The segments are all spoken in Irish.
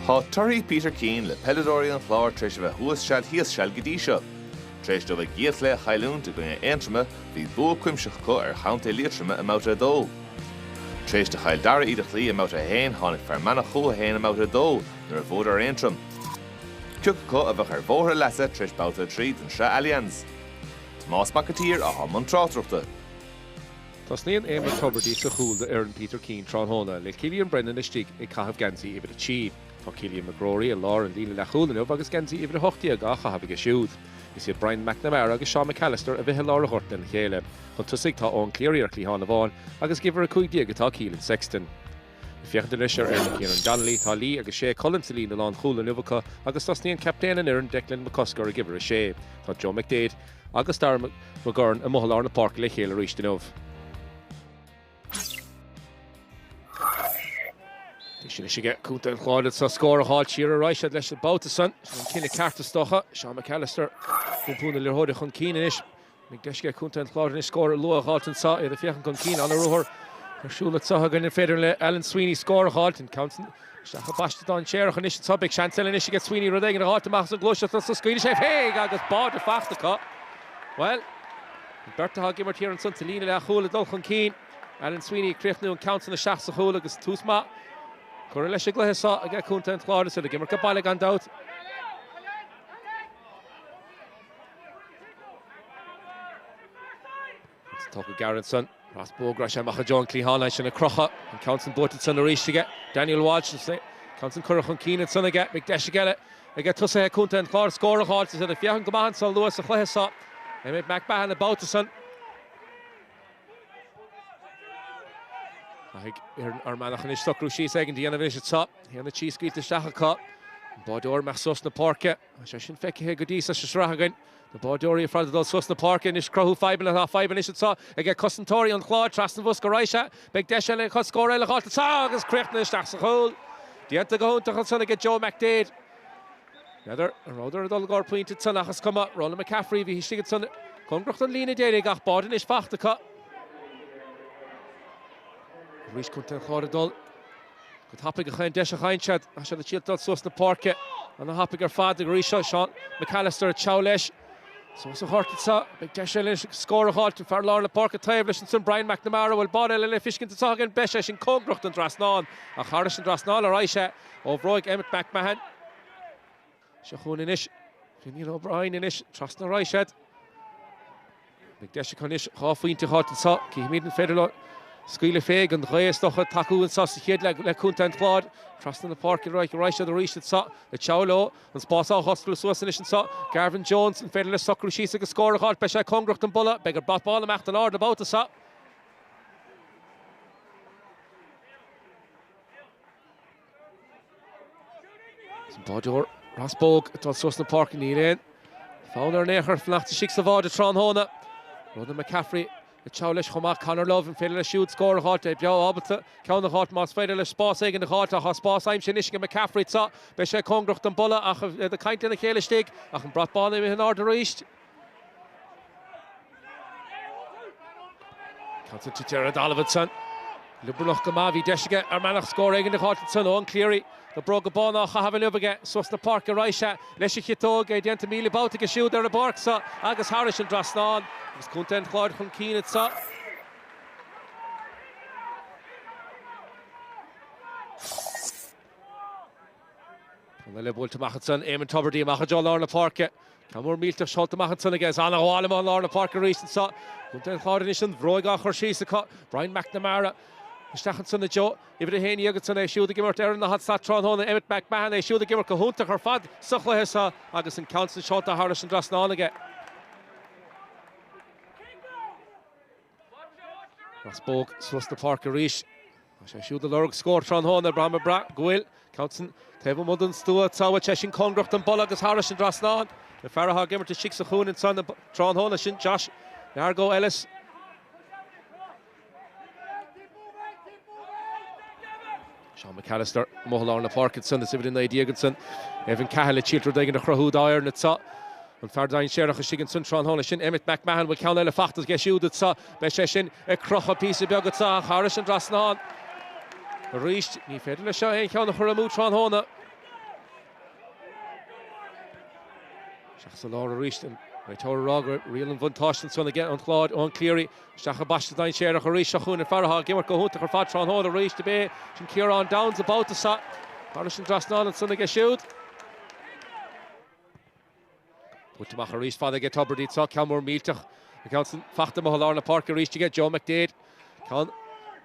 Tá torthaí Peter Keane le peileadóirí an Chláir tar éis a bheith thuas seal thíos seal go dtí seo. Tar éis dóibh a gcéad chluiche a chailliúint i gcoinne Aontroma, bhí bua cuimsitheach acu ar chontae Liatroma i mbabhta 2. Tar éis do Chill Dara iad a chloí i mbabhta 1, tháinig Fear Manach chucu féin i mbabhta 2 nuair a bhuadar ar Aontroim, cé acu a bheadh ar bhóthar a leasa tar éis babhta 3 den sraith Allianz. Tomás Mac an tSaoir, atá i mbun tráchtaireachta. Tosnaíonn Éamonn Tubridy sa chúl do fhoireann Peter Keane tráthnóna, le Cillian Brennan istigh ag caitheamh geansaí uimhir a trí. Tá Cillian McGroary i lár an líne leathchúil inniu agus geansaí uimhir a hocht déag á chaitheamh aige siúd. Is iad Brian McNamara agus Seán McAllister a bheidh i lár an ghoirt lena chéile. Chun tosaigh tá Eoin Cleary ar chliathán amháin agus ag uimhir a cúig déag atá Keelan Sexton. Féachaint anois ar fhoireann Kieran Donnelly, tá Lee agus Ché Cullen sa líne lánchúil inniu acu agus tosnaíonn captaen an fhoireann Declan McCusker ag uimhir a sé. Tá Joe McDade agus Darragh McGurn amuigh i lár na páirce le chéile arís inniu. Deis anois aige Contae an Chláir scór a dh'fháilt siar ar ais leis an babhta san. Sin an cinneadh ceart is dócha. Seán McAllister, ag iompar na liathróide chun cinn anois. Deis aige Contae an Chláir anois scór luath a dh'fháilt anso, iad ag féachaint chun cinn. An-ruathar ar siúl anso againn. An féidir le Alan Sweeney scór a dh'fháilt? An ceann san isteach go paiste dainséarach anois anso. Beidh seans eile anois aige Sweeney rud éigin a dh'fháilt amach as an ghluaiseacht anso. Scaoileann sé féin agus báide fachta acu. Bhuel, an bheirt atá ag imirt thiar ansan sa líne leath-chúil ag dul chun cinn. Alan Sweeney ag críochnú an ceann san isteach sa chúl agus tús maith curtha leis an gcluiche so aige Contae an Chláir. Is iad ag imirt aige baile gan dabht. Agus tógtha gairid ansan pas bróige arís amach i dtreo an cliatháin, ansin an croitheadh, an ceann san buailte ansan arís aige Daniel Walsh, an ceann san curtha chun cinn ansan aige, beidh deis aige, aige tosaithe contae an Chláir scór a dh'fháilt, is iad ag féachaint go maith ansan luath sa chluiche so, Emmet McMahon an babhta san. Caithfidh foireann Fhear Manach anois socrú síos éigin a dhéanamh anois anseo, a haon a trí scaoilte isteach acu, an báireoir i bhfad suas na páirce. Tá sé sin feicthe go dtí so sa sraith againn. Na báireoirí ar fad ag dul suas na páirce anois, ag cruthú fadhbanna. Tá fadhb anois anseo ag cosantóirí an Chláir. Trasna an bhosca a raghaidh sé. Beidh deis eile acu scór eile a fháil anseo agus críochnaithe isteach sa chúl. Déanta go hiontach ansan ag Joe McDade. N'fheadar an rabhadar ag dul i gcóir pointe ansan ach is cuma. Ronan McCaffrey a bhí istigh ansan cóngarach don líne deiridh ag gach báire anois fachta acu. Arís contae an Chláir ag dul. Go tapaidh a chaon deis a fhaigheann siad ag triail dul suas na páirce. Ana-thapaidh ar fad acu arís anso, Seán McAllister ag teacht leis. Suas an ghort anseo, beidh deis eile leis scór a dh'fháilt, an fear lár na páirce taobh leis ansan Brian McNamara, an bhfuil báide eile le feiscint anseo againn, beidh sé sin cóngarach don trasnán. Ach thairis an trasnán a raghaidh sé, ó bhróig Emmet McMahon. Seo chugainn anois Fionan O'Brien anois trasna ar aghaidh siad. An deis acu anois dhá phointe a fháilt anseo. Cífimid an féidir leo scaoileadh féig an ghaoth is dócha ag tacú anseo sa chéad leath le contae an Chláir. Trasna na páirce ar aghaidh ar aghaidh siad arís anseo ag treabhadh leo. An spás á dh'oscailt suas anois anseo. Garvan Jones, an féidir leis socrú síos agus scór a dh'fháilt? Beidh sé cóngarach don bpolla. Beidh an brat bán imithe in airde an babhta seo. Is an báireoir Ross Bogue ag dul suas na páirce. Níl aon fonn air in aon chor fanacht istigh sa bháide tráthnóna, Ronan McCaffrey ag treabhadh leis chomh maith. Conor Love, an féidir leis siúd scór a dh'fháilt? É breá ábalta ceann a dh'fháilt más féidir leis spás éigin a dh'fháilt. Ach tá spás aimsithe anois ag McCaffrey anseo. Beidh sé cóngarach don bpolla ach iad ag caint lena chéile istigh. Ach an brat bán imithe in airde arís. Ceann tite ar an dtalamh ansan. Liobarnach go maith a bhí deis aige ar bhealach scór éigin a dh'fháilt ansan. Eoin Cleary, na bróga bána á chaitheamh inniu aige suas na páirce ar aghaidh sé leis an gciotóg é déanta míle babhta aige siúd ar an bpáirc so agus thairis an dtrasnán agus contae an Chláir chun cinn anseo. Ceann eile buailte amach ansan, Eamon Tubridy amach i dtreo lár na páirce. Ceann mór millteach seolta amach ansan aige, is an-ghabháil amach lár na páirce arís anso. Contae an Chláir anois an bhróig á cur síos acu. Brian McNamara isteach ansan i dtreo uimhir a haon dhéag ansan, é siúd ag imirt ar an daichead slat tráthnóna, Emmet McMahon, é siúd ag imirt go hiontach ar fad sa chluiche so agus an ceann san seolta thairis an dtrasnán aige. Ross Bogue suas na páirce arís. Tá sé siúd ag lorg scór tráthnóna ar Brahma Bratt go bhfuil Coughton taobh amuigh den stua. Beidh sé sin cóngarach don bpolla agus thairis an trasnán. An fear atá ag imirt istigh sa chúinne ansan tráthnóna sin Josh Largo Elis. Seán McAllister, amuigh i lár na páirce ansan, is uimhir 19 ansan, Evan Cahill leis siúd rud éigin a chruthú dá fhoireann anso, an fear dainséarach istigh ansan tráthnóna sin, Emmet McMahon, bhfuil ceann eile fachta aige siúd anso, beidh sé sin ag crochadh píosa beag anso ach thairis an trasnán arís, ní féidir leis seo aon cheann a chur amú tráthnóna. Isteach sa lár arís, an réiteoir ag rá gur riail an bhuntáiste ansan aige an gClár, Eoin Cleary, Isteach i bpaiste dainséarach arís seo chugainn an fear atá ag imirt go hiontach ar fad tráthnóna arís, cibé sin Ciarán Downes an babhta seo. Thairis an dtrasnán ansan aige siúd. Buailte amach arís fada aige Tubridy tráthnóna, ceann mór millteach an ceann san, faighte amuigh i lár na páirce arís aige Joe McDade. Ceann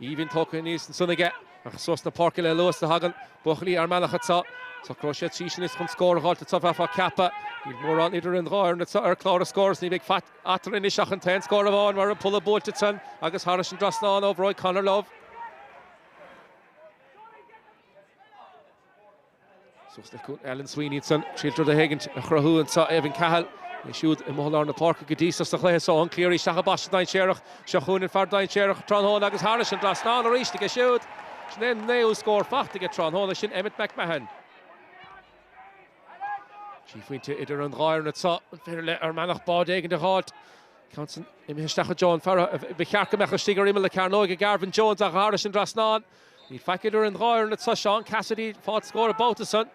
aoibhinn tógtha aníos ansan aige ach suas na páirce le luas a thagann buachaillí Fhear Manach anseo. Socróidh siad síos anois chun scór a dh'fháilt anseo bheifeá ag ceapadh. Níl mórán idir an dhá fhoireann anseo ar chlár an scóir is ní bheidh faic eatarthu anois ach an t-aon scór amháin mar an polla buailte trom agus thairis an dtrasnán ó bhróig Conor Love. Suas le cúl Alan Sweeney ansan, triail rud éigint a chruthú anseo Evan Cahill. É siúd i mbun lár na páirce go dtí so sa chluiche so. Eoin Cleary isteach i bpaiste dainséarach. Seo chugainn an fear dainséarach tráthnóna agus thairis an dtrasnán arís aige siúd. Sin é an naoú scór faighte aige tráthnóna, sin Emmet McMahon. Trí phointe idir an dhá fhoireann an féidir le Fear Manach báide éigin a dh'fháilt. Ceann san imithe isteach chuig Joan Farrell a ba cheart go mbeadh istigh ar imeall na cearnóige ag Garvan Jones ach thairis an dtrasnán níl faic idir an dhá fhoireann atá Seán Cassidy ag fáil scór an babhta san.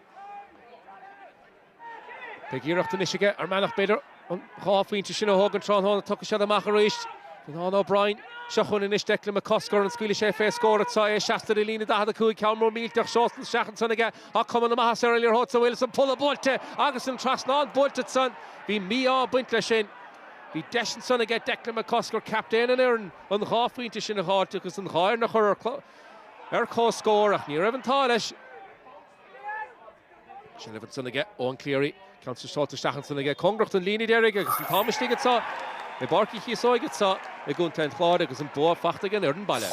Beidh iarracht anois aige Fear Manach b'fhéidir. An dhá phointe sin a thógaint tráthnóna, tiocfaidh siad amach arís. Fionán O'Brien, Seo chugainn anois Declan McCusker, an scaoilfidh sé fé scór anseo? É laistigh de líne 45, ceann mór millteach seolta isteach ansan aige, ach cuma na maitheasa ar an liathróid san, an bhfuil, is an polla buailte agus an trasnán buailte ansan. Bhí mí-ádh ag baint leis sin. Bhí deis ansan aige Declan McCusker, captaen an fhoireann, an dhá phointe sin a dh'fháilt agus an dhá fhoireann a chur ar comhscór ach ní raibh an t-ádh leis. Seilbh ansan aige, Eoin Cleary, ceann pasáilte isteach ansan aige, cóngarach don líne deiridh agus an t-am istigh anso i bPáirc Uí Chíosóig anso i gContae an Chláir agus an bua fachta aige an fhoireann baile.